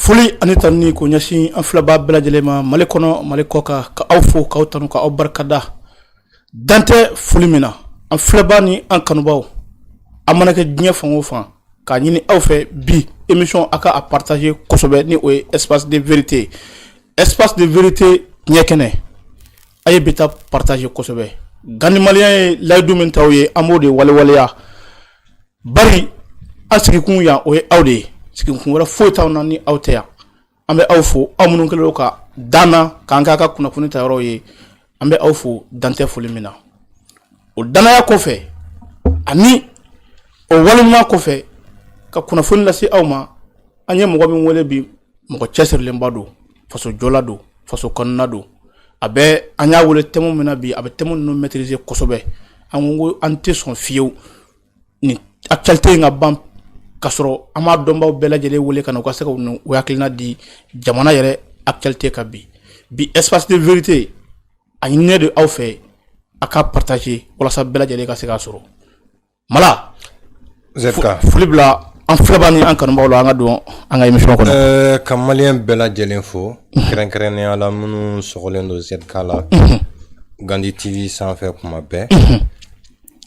Foli ani tanuni k'o ɲɛsin an filɛbaw bɛɛ lajɛlen ma mali kɔnɔ mali kɔ kan ka aw fo k'aw tanu k'aw barikada dan tɛ foli min na an filɛbaw ni an kanubaw aw mana kɛ diɲɛ fan o fan k'a ɲini aw fɛ bi émission aw ka a partager kosɛbɛ ni o ye espace de vérité ye espace de vérité tiɲɛ kɛnɛ A ye bi ta partager kosɛbɛ ganmaya ye layidu min ta ye an b'o de waleya bawo an sigikun yan o ye aw de ye sigikun wɛrɛ foyi t'an na ni aw tɛ yan an bɛ aw fo aw minnu kɛlen ka dan k'an k'aw ka kunnafoni ta yɔrɔ ye an bɛ aw fo dan tɛ foli min na o daya kɔfɛ ani o waleya kɔfɛ ka kunnafoni lase aw ma an ye mɔgɔ min wele bi mɔgɔ cɛsirilenba don faso jɔla don faso kanuna don a bɛ an y'a wele thème min na bi a bɛ thème ninnu maîtriser kosɛbɛ an ko ko an tɛ sɔn fiyewu nin actualité in ka ban ka sɔrɔ an m'a dɔnbaw bɛɛ lajɛlen wele ka na u ka se ka u hakilina di jamana yɛrɛ actualité kan bi bi espace de vérité a ɲininen de aw fɛ aw ka partager walasa bɛɛ lajɛlen ka se k'a sɔrɔ mala foli bila an filɛbaw ni an kanubaw la an ka don an ka émission kɔnɔ ka maliyɛn bɛɛ lajɛlen fo kɛrɛnkɛrɛnnenya la minnu sɔgɔlen don zka la gandi tv sanfɛ kuma bɛɛ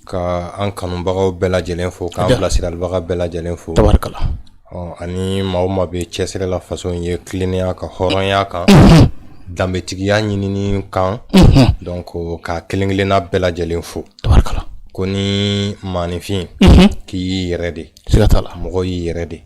ka an kanubagaw bɛɛ lajɛlen fo k'an bilasiralibaga bɛɛ lajɛlen fo tabarikala ani maa o maa bɛ cɛsiri la faso in ye tilennenya kan hɔrɔnya kan danbetigiya ɲinini kan donc ka kelen-kelenna bɛɛ lajɛlen fo tabarikala kɔni maaninfin k'i y'i yɛrɛ de siga t'a la mɔgɔ y'i yɛrɛ de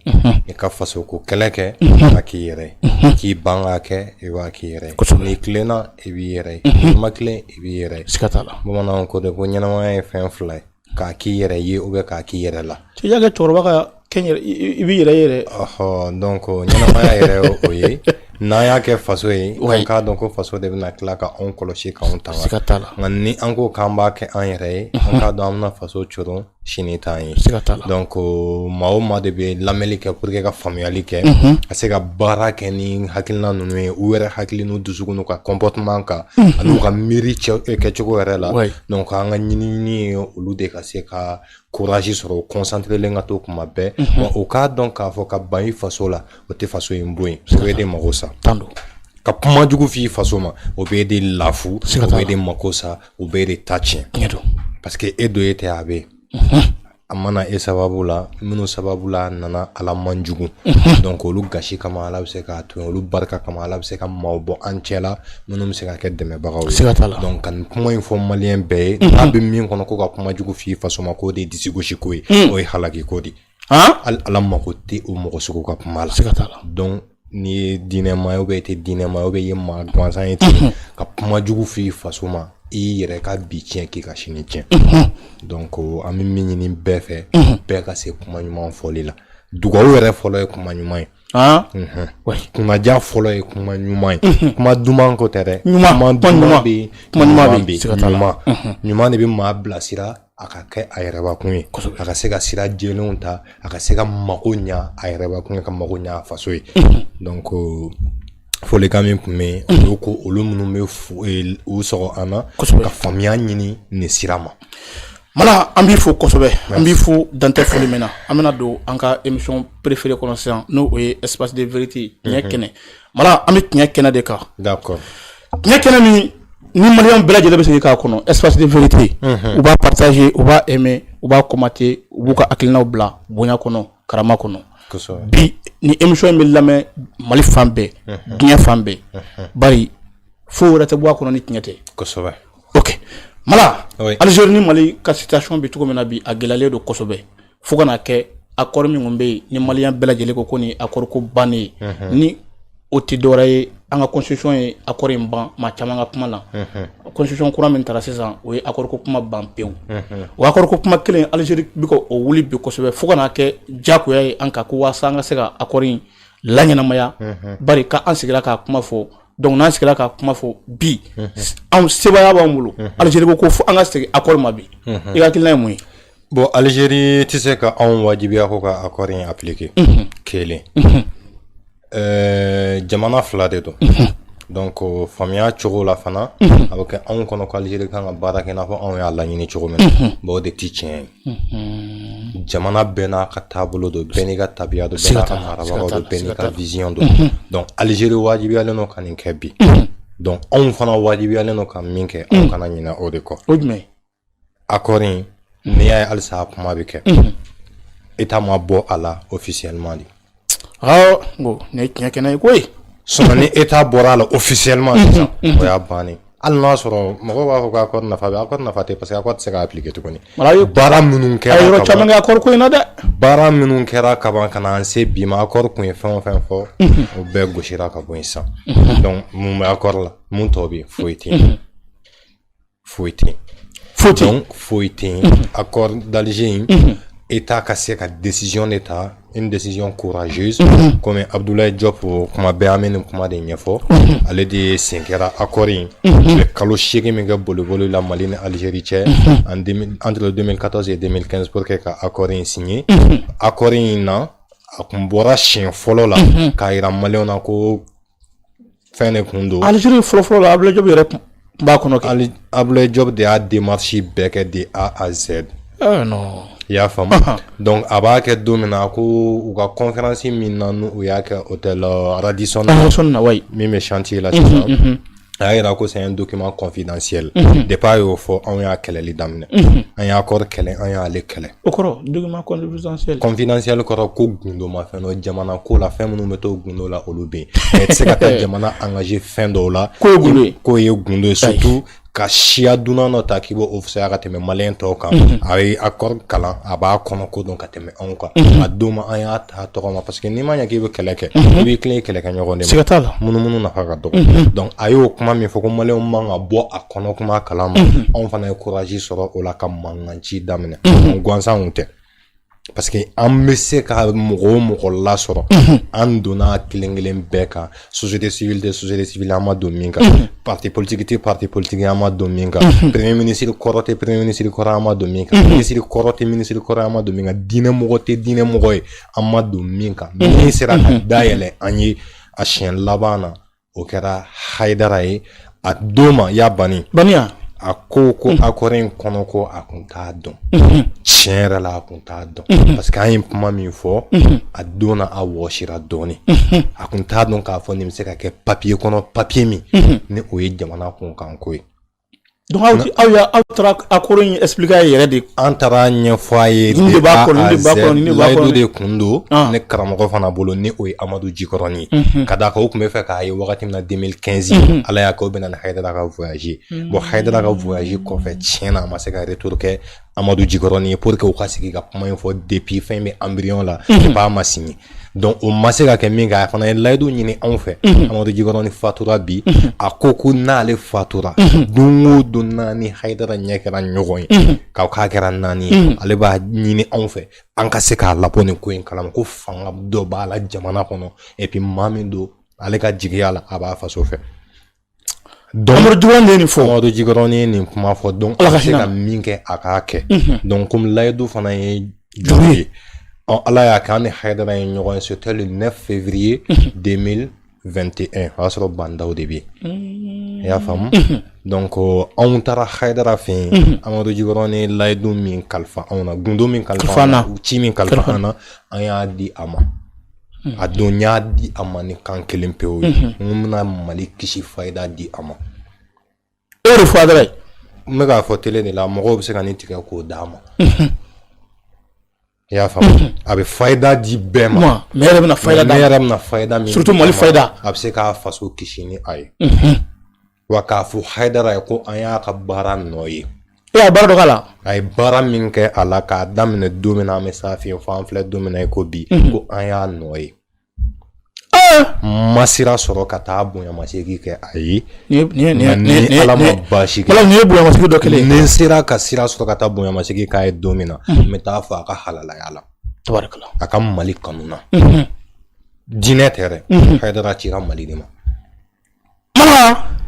i ka faso ko kɛlɛ kɛ i b'a k'i yɛrɛ ye k'i ban k'a kɛ i b'a k'i yɛrɛ ye Kosɛbɛ. n'i tilenna i b'i yɛrɛ ye n'i ma tilen i b'i yɛrɛ ye siga t'a la bamananw ko dɛ ko ɲɛnamaya ye fɛn fila ye k'a k'i yɛrɛ ye ou bien k'a k'i yɛrɛ la cɛ y'a kɛ cɛkɔrɔba ka kɛn yɛrɛ i b'i yɛrɛ yɛrɛ ɔhɔ donc ɲɛnamaya yɛrɛ ye o ye n'an y'a kɛ faso ye Oui. an k'a dɔn ko faso de bɛna tila ka anw kɔlɔsi k'anw tanga siga t'a la nka ni an ko k'an b'a kɛ an yɛrɛ ye an k'a dɔn an bɛna faso coron sini t'an ye siga t'a la donc o, maa o maa de bɛ lamɛnni kɛ pour que ka faamuyali kɛ ka se ka baara kɛ ni hakilina ninnu ye u yɛrɛ hakili n'u dusukun n'u ka comportement kan ani u ka miiri cɛ- kɛcogo yɛrɛ la Oui. donc an ka ɲinini ye olu de ka se ka courage sɔrɔ concentrélen ka to kuma bɛɛ o k'a dɔn k'a fɔ ka ban i faso la o tɛ faso in bon o bɛ e de mako sa tan don ka kuma jugu f' i faso ma o bɛ e de lafu o bɛ e de mako sa o bɛ e de ta tiɲɛ tiɲɛ don parce que e don e tɛ a bɛ a ma na e sababu la minnu sababu la a nana ala man jugu donc olu gasi kama ala bɛ se k'a to olu barika kama ala bɛ se ka maaw bɔ an cɛ la minnu bɛ se ka kɛ dɛmɛbagaw ye siga t'a la donc ka nin kuma in fɔ maliyɛn bɛɛ ye n'a bɛ min kɔnɔ ko ka kuma jugu f'i faso ma k'o de ye disigosiko ye o ye halakiko de hali ala mako tɛ o mɔgɔ sugu ka kuma la siga t'a la donc n'i ye diinɛma ye ou bien i tɛ diinɛma ye ou bien i ye maa gansan ye ten ka kuma jugu f'i faso ma i y'i yɛrɛ ka bi tiɲɛ k'i ka sini tiɲɛ donc an bɛ min ɲini bɛɛ fɛ bɛɛ ka se kuma ɲuman fɔli la dugawu yɛrɛ fɔlɔ ye kuma ɲuman ye kunnadiya fɔlɔ ye kuma ɲuman ye kuma duman ko tɛ dɛ kuma ɲuman de bɛ maa bilasira a ka kɛ a yɛrɛbakun ye a ka se ka sira jɛlenw ta a ka se ka mako ɲa a yɛrɛbakun ye ka mako ɲa a faso ye donc folikan min tun bɛ yen o ko olu minnu bɛ u sɔgɔ an na ka faamuya ɲini nin sira ma mana an b'i fo kosɛbɛ an b'i fo dan tɛ foli min na an bɛna don an ka émission préférée kɔnɔ sisan n'o o ye espace de vérité tiɲɛ mhm. kɛnɛ bari an bɛ tiɲɛ kɛnɛ de kan tiɲɛ kɛnɛ min ni maliyɛn bɛɛ lajɛlen bɛ se a kɔnɔ espace de vérité mhm. u b'a partager u b'a aimer u b'a commenter u b'u ka hakilinaw bila bonya kɔnɔ karama kɔnɔ bi nin émission in bɛ lamɛn mali fan bɛɛ diɲɛ fan bɛɛ bari foyi wɛrɛ tɛ bɔ a kɔnɔ ni tiɲɛ tɛ Algérie ni mali ka situation bɛ cogo min na bi a gɛlɛlen don kosɛbɛ fo ka n'a kɛ accord min bɛ yen ni maliyɛn bɛɛ lajɛlen ko ko nin accord ko bannen ye o tɛ dɔwɛrɛ ye an ka constitution ye accord in ban maa caman ka kuma na constitution kura min tara sisan o ye accord ko kuma ban pewu o accord ko kuma kelen Algérie bɛ ka o wuli bi kosɛbɛ fo ka n'a kɛ diyagoya ye an kan ko waasa an ka se ka accord in laɲɛnamaya bari ka an sigira k'a kuma fɔ donc n'an sigira k'a kuma fɔ bi anw sebaaya b'an bolo Algérie ko ko fo an ka segin accord ma bi i ka hakilina ye mun ye bon Algérie tɛ se ka anw wajibiya ko ka accord in appliquer kelen Ɛɛ jamana fila de don donc faamuya cogo la fana a bɛ kɛ anw kɔnɔ ko Algérie kan ka baara kɛ n'a fɔ anw y'a laɲini cogo min bon o de tɛ tiɲɛ ye jamana bɛɛ n'a ka taabolo don bɛɛ n'i ka tabiya don bɛɛ n'a ka marabaga don bɛɛ n'i ka vision don donc Algérie wajibiyalen don ka nin kɛ bi donc anw fana wajibiyalen don ka min kɛ anw kana ɲinɛ o de kɔ a kɔni n'i y'a ye halisa a kuma bɛ kɛ état ma bɔ a la officiellement de bon nin ye tiɲɛ kɛnɛ ye koyi sinon ni état bɔra a la officiellement sisan o y'a bannen hali n'a sɔrɔ mɔgɔw b'a fɔ ko accord nafa bɛ accord nafa tɛ parce que accord tɛ se ka appliquer tuguni baara minnu kɛra a ye yɔrɔ caman kɛ accord ko in na dɛ baara minnu kɛra kaban ka na se bi ma accord tun ye fɛn o fɛn fɔ o bɛɛ gosira ka bɔ yen sisan donc mun bɛ accord la mun tɔ bɛ yen foyi tɛ yen foyi tɛ yen foyi tɛ yen foyi tɛ yen a kɔri dalize in e t'a ka se ka desiyɔn de ta e desiyɔn koze kɔmi abudula jɔ ko kuma bɛ an bɛ nin kuma de ɲɛfɔ ale de ye sen kɛra a kɔri in kalo seegin min kɛ bolokobolo la mali ni alizeri cɛ an anteden ka se den kɛnɛspo kɛ ka a kɔri in sin ye a kɔri in na a tun bɔra siɲɛ fɔlɔ la k'a jira mali na ko fɛn de kun don aliziri fɔlɔfɔlɔ la abulayi jɔpu yɛrɛ b'a kɔnɔ kɛ ali abulayi jɔpu de y'a démarche bɛɛ kɛ de a à z ah, non i y'a faamu donc a b'a kɛ don min na ko u ka conférence min na n'u y'a kɛ hôtel euh, radisson na wayi min bɛ chantier la sisan mhm, mhm. a y'a yira ko c'est un document confidentiel mhm. depuis a y'o fɔ anw y'a kɛlɛli daminɛ an ye accord kɛlɛ an y'ale kɛlɛ O kɔrɔ document confidentiel kɔrɔ ko gundofɛn dɔ jamana ko la fɛn minnu bɛ to gundo la olu bɛ yen se ka taa jamana an ka ye fɛn dɔw la ko k'o ye gundo c'est tout ka siya dunan dɔ ta k'i b'o fisaya ka tɛmɛ mali tɔw kan a ye accord kalan a b'a kɔnɔko dɔn ka tɛmɛ anw kan a don ma an y'a ta tɔgɔ ma parce que n'i ma ɲɛ k'i bɛ kɛlɛ kɛ i b'i tilen kɛlɛkɛɲɔgɔn se ka taa la munumunu nafa ka dɔgɔ donc a y'o kuma min fɔ ko mali man kan ka bɔ a kɔnɔ kuma kalan ma anw fana ye courage sɔrɔ o la ka mankan ci daminɛ gansanw tɛ parce que an bɛ se ka mɔgɔ o mɔgɔ lasɔrɔ an donna kelen kelen bɛɛ kan société civile tɛ société civile an ma don min kan parti politique tɛ parti politique an ma don min kan premier ministre kɔrɔ tɛ premier ministre kɔrɔ an ma don min kan ministre kɔrɔ tɛ ministre kɔrɔ an ma don min kan diinɛ mɔgɔ tɛ diinɛ mɔgɔ ye an ma don min kan min sera ka dayɛlɛ an ye a siɲɛ laban na o kɛra haidara ye a don ma y'a banni baniya a ko ko accord in kɔnɔko a kun t'a dɔn tiɲɛ yɛrɛ la a kun t'a dɔn parce que an ye kuma min fɔ a don a wɔsira dɔɔnin a kun t'a dɔn k'a fɔ nin bɛ se ka kɛ papiye kɔnɔ papiye min ni o ye jamana kunkanko ye Donc aw, aw, ya, aw taara accord in expliquer a yɛrɛ de an taara a ɲɛfɔ a ye de b'a kɔnɔ de b'a kɔnɔ de b'a kɔnɔ de kun don ah. ne karamɔgɔ fana bolo ni o ye amadu jikɔrɔni ye mm -hmm. ka d'a kan o kun b'a fɛ k'a ye wagati min na 2015 mm -hmm. ala y'a kɛ o bɛnna ni hayidara ka voyage mm -hmm. bon hayidara ka voyage kɔfɛ tiɲɛ na a ma se ka retour kɛ amadu jikɔrɔni ye pour que u ka sigi ka kuma in fɔ depuis fɛn bɛ embryon la mm -hmm. ma signé donc o ma se ka kɛ nka a fana ye layidu ɲini anw fɛ amadu jikɔrɔni fatura bi a ko ko n'ale fatura don o don n'an ni hayidara ɲɛ kɛra ɲɔgɔn ye k'aw k'a kɛra naani ale b'a ɲini anw fɛ an ka se k'a labɔ nin ko in kalama ko fanga dɔ b'a la jamana kɔnɔ et puis maa min don ale ka jigiya la a b'a faso fɛ Dɔnmo du de nin fɔ amadu ji dɔrɔn ye nin kuma fɔ donc ala se ka min kɛ a k'a kɛ donc kɔmi layidu fana ye juru ye ɔ ala y'a kɛ an ni hadara ye ɲɔgɔn sɔrɔ le 9 février 2021 o y'a sɔrɔ ba ndaw de bɛ yen i y'a faamu donc ko anw taara hadara fɛ yen amadu ji dɔrɔn ni layidu min kalifa anw na gundo min kalifa ci min kalifa an na an y'a di a ma Hmm. A dun y'a di a ma ni kan kelen pewu ye. Hmm. N ko n bɛna Mali kisi fayida di a ma. E y'o de fɔ a dɔrɔn ye. N bɛ k'a fɔ tele de la mɔgɔw bɛ se ka nin tigɛ k'o d'a ma. Hmm. I y'a faamu a bɛ fayida di bɛɛ ma. Ne yɛrɛ bɛna fayida d'a ma. Ne yɛrɛ bɛna fayida min d'a ma. Surtout Mali fayida. A bɛ se k'a faso kisi ni a ye. wa k'a fɔ hadara ye ko an y'a ka baara nɔ ye e y'a baara dɔ k'a la a ye baara min kɛ a la k'a daminɛ don min na an bɛ s'a fɛ yen fo an filɛ don min na i ko bi mhm. ko an y'a nɔ ye n ma sira sɔrɔ ka taa bonyamasegin kɛ a ye ni ala ma baasi kɛ nin ye bonyamasegin dɔ kelen ni n sera ka sira sɔrɔ ka taa bonyamasegin k'a ye don min na mhm. n bɛ t'a fo a ka halalaya la a ka mali kanu na mhm. diinɛ tɛ dɛ hayidara cira mali de ma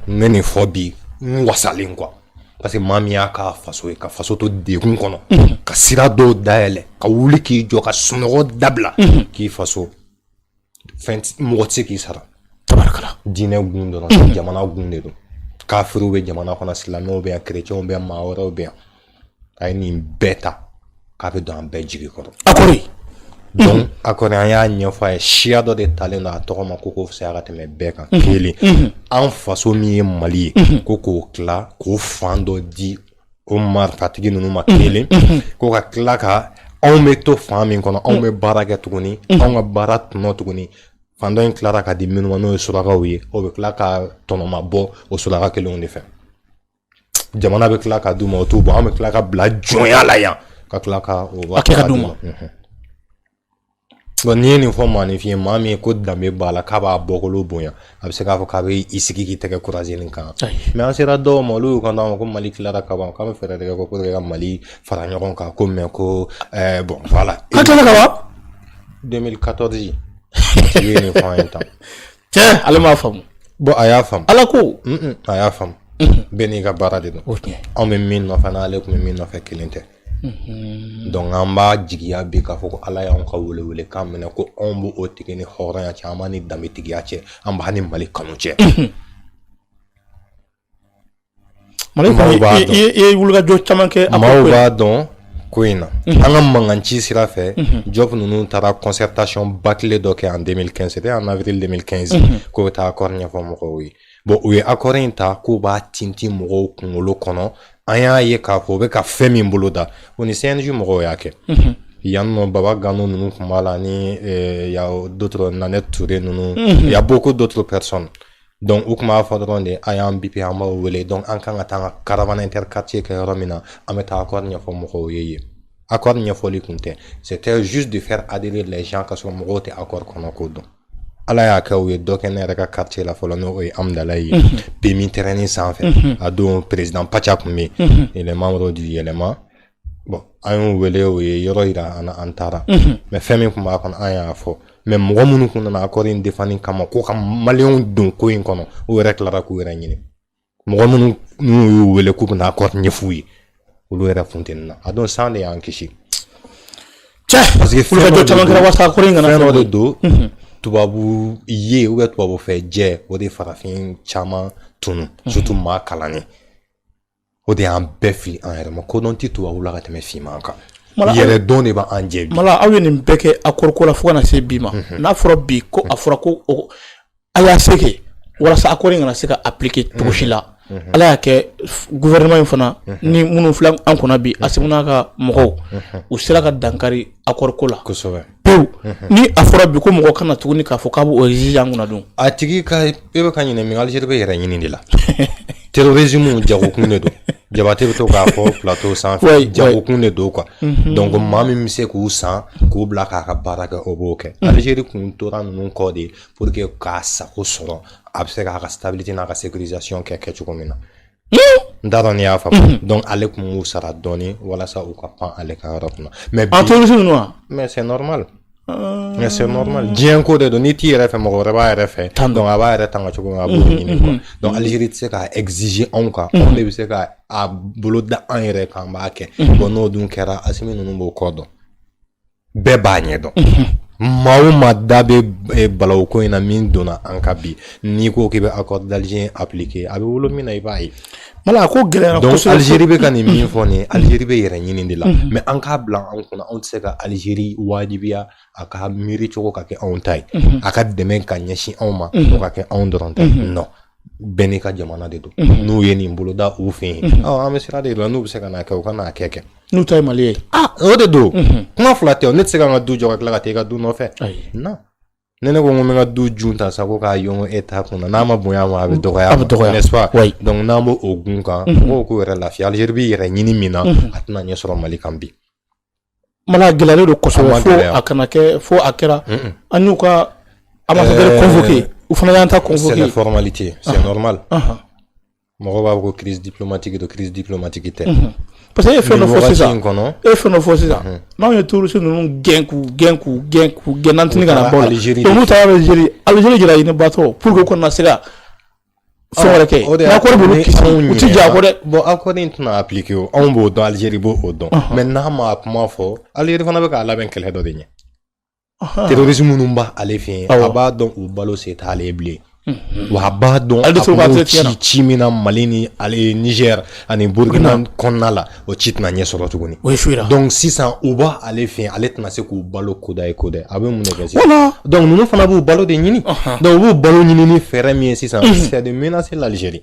n bɛ nin fɔ bi n wasalen quoi parce que maa min y'a ka faso ye ka faso to dɛgun kɔnɔ mhm. ka sira dɔw dayɛlɛ ka wuli k'i jɔ ka sunɔgɔ dabila mhm. k'i faso fɛn mɔgɔ tɛ se k'i sara tabarikala diinɛ kun dɔrɔn mhm. jamana kun de don kafiriw bɛ jamana kɔnɔ silamɛw bɛ yan kerecɛnw bɛ yan maa wɛrɛw bɛ yan a ye nin bɛɛ ta k'a bɛ don an bɛɛ jigi kɔrɔ a kɔni donc a kɔni an y'a ɲɛfɔ a ye siya dɔ de talen don a tɔgɔ ma ko k'o fisaya ka tɛmɛ bɛɛ kan kelen an faso min ye mali ye ko k'o tila k'o fan dɔ di o marifatigi ninnu ma kelen ko ka tila ka anw bɛ to fan min kɔnɔ anw bɛ baara kɛ tuguni anw ka baara tɔnɔ tuguni fan dɔ in tilara ka di minnu ma n'o ye surakaw ye o bɛ tila ka tɔnɔma bɔ o suraka kelenw de fɛ jamana bɛ tila ka d'u ma o t'u bɔ an bɛ tila ka bila jɔnya la yan ka tila ka o baara kɛ ka d'u ma n'i ye nin fɔ maaninfin maa min ye ko danbe b'a la k'a b'a bɔkolo bonya a bɛ se k'a fɔ k'a bɛ i sigi k'i tɛgɛ croiser nin kan mais an sera dɔw ma olu y'u kan ma ko mali tilara ka ban k'a bɛ fɛɛrɛ tigɛ ko ka mali fara ɲɔgɔn kan ko mais ko bon fa la ka tila ka wa 2014 i ye nin fɔ an ye tan cɛ ale m'a faamu bon a y'a faamu ala ko a y'a faamu bɛɛ n'i ka baara de don anw bɛ min nɔfɛ n'ale tun bɛ min nɔfɛ kelen tɛ donc an b'a jigiya bi k'a fɔ ko ala y'anw ka welewelekan minɛ ko anw b'o tigi ni hɔrɔnya cɛ an b'a ni danbetigiya cɛ an b'a ni mali kanu cɛ Mali ye wulikajɔ caman kɛ a maaw b'a dɔn ko in na an ka mankan ci sira fɛ Diop ninnu taara concertation ba kelen dɔ kɛ en deux mille quinze en avril deux mille quinze k'u bɛ taa akɔri ɲɛfɔ mɔgɔw ye bon u ye akɔri in ta k'u b'a tinti mɔgɔw kunkolo kɔnɔ an y'a ye k'a fɔ u bɛ ka fɛn min bolo da u ni CNJ mɔgɔw y'a kɛ yan nɔ Baba Gano ninnu tun b'a la ni dɔ na ne Touré ninnu y a beaucoup d'autres personnes Donc u tun b'a fɔ dɔrɔn de a y'an bipi an b'aw wele donc an kan ka taa an ka caravane interquartier kɛ yɔrɔ min na an bɛ taa accord ɲɛfɔ mɔgɔw ye yen accord ɲɛfɔli tun tɛ c'était juste de faire adhérer les gens k'a sɔrɔ mɔgɔw tɛ accord kɔnɔko dɔn ala y'a kɛ u ye dɔ kɛ ne yɛrɛ ka quartier la fɔlɔ n'o ye Hamdallaye PMI terrain sanfɛ a don président pacha tun bɛ yen les membres du Yɛlɛma bon an y'u wele u ye yɔrɔ yira an na an taara mais fɛn min tun b'a kɔnɔ an y'a fɔ mais mɔgɔ minnu tun nana akɔri in défendre kama ko ka maliyɛnw don ko in kɔnɔ o yɛrɛ tilara k'u yɛrɛ ɲini mɔgɔ minnu n'u y'u wele k'u bɛna akɔri ɲɛfɔ u ye olu yɛrɛ funtenina a don san de y'an kisi c'est parce que fɛn dɔ caman kɛra wasa akɔri in kana fɛn dɔ de don tubabu ye ou bien tubabu fɛ jɛ o de farafin caman tunu surtout maa kalannen o de y'an bɛɛ fili an yɛrɛ mako dun tɛ tubabu la ka tɛmɛ finman kan yɛrɛdɔn de b'an jɛ bi Mala aw ye nin bɛɛ kɛ akɔriko la fo kana se bi ma mhm. n'a fɔra bi ko a fɔra ko Mala y'a se kɛ walasa akɔri in kana se ka appliquer mhm. cogo si la mhm. ala y'a kɛ gouvernement in fana ni minnu filɛ an kunna bi Asimi n'a ka mɔgɔw u sera ka dankari akɔriko la kosɛbɛ pewu ni a fɔra bi ko mɔgɔ kana tuguni k'a fɔ k'a bɛ o exiger an kunna dun a tigi ka e bɛ ka ɲinɛ min Algérie bɛ yɛrɛ ɲini de la terrorisme jagokun de don Jabate bɛ to k'a fɔ plateau sanfɛ jagokun de don quoi mhm. donc maa min bɛ se k'u san k'u bila k'a ka baara kɛ o b'o kɛ mhm. Algérie kun tora ninnu kɔ de pour que k'a sago sɔrɔ a bɛ se k'a ka stabilité n'a ka sécurisation kɛ kɛ cogo min na n t'a dɔn n'i y'a faamu donc ale tun b'u sara dɔɔni walasa u ka pan ale ka yɔrɔ kunna mais bi terroriste ninnu wa mais c'est normal mais c'est normal diɲɛ ko de don n'i t'i yɛrɛ fɛ mɔgɔ wɛrɛ b'a yɛrɛ fɛ donc a b'a yɛrɛ tanga cogo min a b'o ɲini quoi donc Algérie tɛ se k'a exiger anw kan anw de bɛ se ka a bolo da an yɛrɛ kan an b'a kɛ bon n'o dun kɛra Asimi ninnu b'o kɔ dɔn bɛɛ b'a ɲɛ dɔn maa o maa da bɛ eh, balawu ko in na min donna an kan bi n'i ko k'i bɛ accord d'Alger appliquer a bɛ wolo min na i b'a ye Mala a ko gɛlɛyara donc kosɛbɛ Algérie bɛ ka nin min fɔ nin ye Algérie bɛ yɛrɛ ɲini de la mais an k'a bila an kun na anw tɛ se ka Algérie wajibiya a ka miiri cogo ka kɛ anw ta ye a ka dɛmɛ ka ɲɛsin anw ma o ka kɛ anw dɔrɔn ta ye non bɛɛ n'i ka jamana de don n'u ye nin boloda u fɛ yen ɔ an bɛ sira de la n'u bɛ se ka n'a kɛ u ka n'a kɛ kɛ N'u ta ye mali ye ah o de don kuma fila tɛ ne tɛ se ka ka du jɔ ka tila ka taa i ka du nɔfɛ na ne ne ko n bɛ ka du jun ta sa ko k'a yɔn e ta kun n'a ma bonya ma a bɛ dɔgɔ a bɛ dɔgɔ donc n'an b' o gun kan mɔgɔw ko yɛrɛ lafi ale yɛrɛ b'i yɛrɛ ɲini min na a tɛna ɲɛ sɔrɔ mali kan bi mana gɛlɛyalen don kɔsɔ a kana kɛ fo a kɛra an n'u ka a ma kɛ u fana y'an ta kɔsɔmama mɔgɔ b'a fɔ ko crise diplomatique don crise diplomatique tɛ mhm. parce que e ye fɛn dɔ fɔ sisan e ye fɛn dɔ fɔ sisan mhm. n'anw ye terroriste ninnu gɛn k'u gɛn k'u gɛn k'u gɛn nantini ka na bɔ la n'u taara Algérie Algérie ye drone nin abattre pour que u kana se ka fɛn wɛrɛ kɛ n'accord b'olu kisi u ti jɔ a kɔ dɛ bon accord in tɛna appliquer o anw b'o dɔn Algérie b'o dɔn mais n'a ma kuma fɔ Algérie fana bɛ k'a labɛn kɛlɛ dɔ de ɲɛ terroriste minnu b'ale fɛ yen a b'a dɔn u balo se t'ale ye bilen wa a b'a dɔn a b'u ci ci min na Mali ni ale Niger ani Burkina kɔnɔna la o ci tɛna ɲɛ sɔrɔ tuguni o ye su jira donc sisan u b'ale fɛ yen ale tɛna se k'u balo kudayi kudayi a bɛ mun de kɛ sisan donc ninnu fana b'u balo de ɲini donc u b'u balo ɲini ni fɛɛrɛ min ye sisan c'est de menacer l'Algérie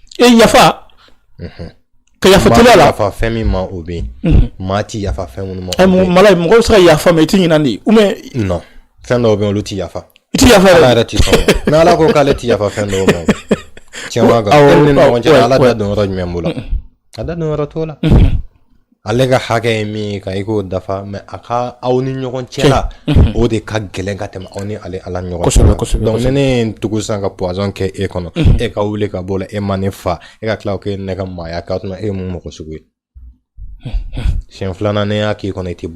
e yafa ka yafa teliya la yafa fɛn min ma o bɛ yen mhm. maa ti yafa fɛn minnu ma eh, mala mɔgɔ bɛ se ka yafa mais i ti ɲinan dɛ ou bien non fɛn dɔw bɛ yen olu ti yafa i ti yafa ala yɛrɛ ti sɔn ni ala ko k'ale ti yafa fɛn dɔw ma tiɲɛ b'a kan e ni ɲɔgɔn cɛ ala da don yɔrɔ jumɛn b'o la a da don yɔrɔ t'o la ale ka hakɛ ye min ye ka i k'o dafa mais a ka aw ni ɲɔgɔn cɛ la o de ka gɛlɛn ka tɛmɛ aw ni ale ala ɲɔgɔn kosɛbɛ kosɛbɛ donc ne ye tugu san ka poison kɛ e kɔnɔ e ka wuli ka bɔ a la e ma ne fa e ka tila k'e ne ka maaya k'a tuma e mun mɔgɔ sugu ye siɲɛ filanan ne y'a k'i kɔnɔ i tɛ bɔ